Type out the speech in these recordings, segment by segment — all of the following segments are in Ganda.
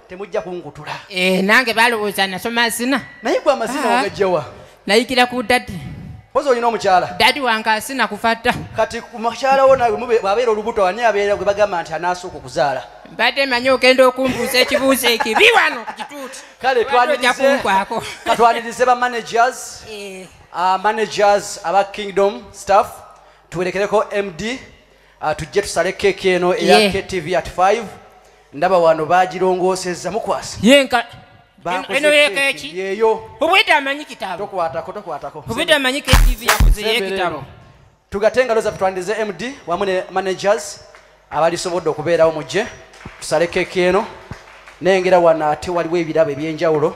temujja kunkutula eh, nange balowooza nasoma asina naye gwe amazina ah. ogajjawa nayigira ku dadi oza olina omukyala dadi wange asina kufatta kati mukyala wo nawe bwabeera olubuto ani abeera gwe bagamba nti anaasooka okuzaala mbadde manyi ogenda okumbuuza ekibuuzo ekibi wano ku kituuti kale twanirizekunkwako katwanirize ba managers eh. ah, managers aba kingdom staff tuwerekereko md Ah, tujje tusale keeki eno eya yeah. ktv at 5 ndaba wano bagirongoosezza mukwasa yenka eno yekeeki yeyo obwedde amanyi kitabo tokwatako tokwatako obwedde amanyi ktv yakoze yekitabo tugate engalo zaffe twandize md wamu ne managers abalisobodde okubeerawo mujje tusale keeki eno nengera wano ate waliwo ebirabo ebyenjawulo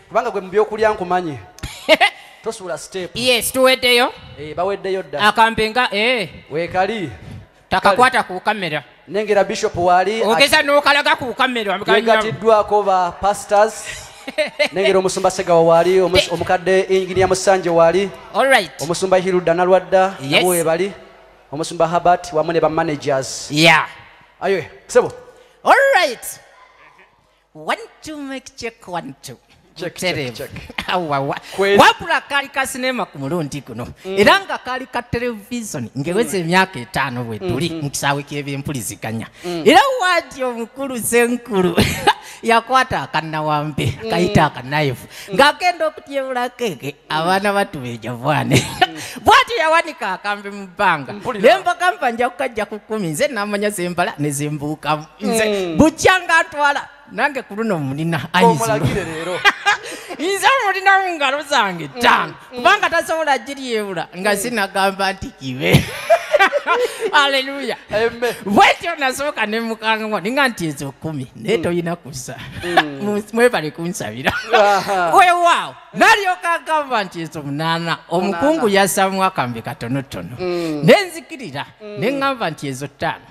kubanga gwe mubyokulya nkumanyi tosuula step yes tuweddeyo eh, baweddeyo dda akambe nga eh. wekali takakwata ku kamera nengera bishop wali ogeza nokalaga ku kamera yegatiddwako ba pastors nengera omusumba segawa wali omukadde enginia musanje wali omusumba hiruda nalwadda nabo webali omusumba habert wamu ne bamanagers ayo sebo olright One to make check one two. wabula kaali ka sinema ku mulundi guno mm. era nga kaali ka televizoni ngeweza mm. emyaka etaano bwe tuli mm-hmm. mu kisaawe ky'ebyempuliziganya mm. era waati omukulu senkulu yakwata akanawambe kayita akanayifu ng'agenda okutyebulako ege abaana batubeja bwane bwati yawanika akambe mu bbanga ne mbagamba nja kukajja ku kkumi nze namanya zembala ne zembuukamu nze mm. bujja nga atwala nange ku luno mulina omulagire leero nze omulina mu ngalo zange mm, ttaano mm. kubanga tasobola giryewula nga mm. sinagamba nti kibe aleluya bwetyo nasooka ne mukangao ninga nti ezo kumi naye tolina kusa mwebale kunsabira wewaawo nalyoka agamba nti ezo munaana omukungu yasaamu akambe katonotono nenzikirira ne ŋŋamba nti ezo ttaano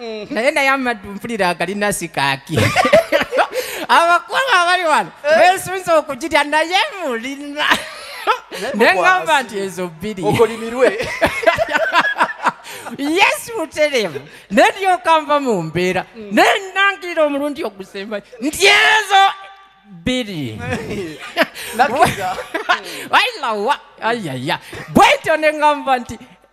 Mm-hmm. naye naye amaddu mpulira agali nasikaaki abakulu abali wano eh. besunza okugirya naye mulina nengamba nti ezo bbiri okolimirwe yesu muteremu neryokanva mu mbeera mm. nenangirira omulundi ogusemba nti ezo bbiri wailawa ayaya bwetyo nengamba nti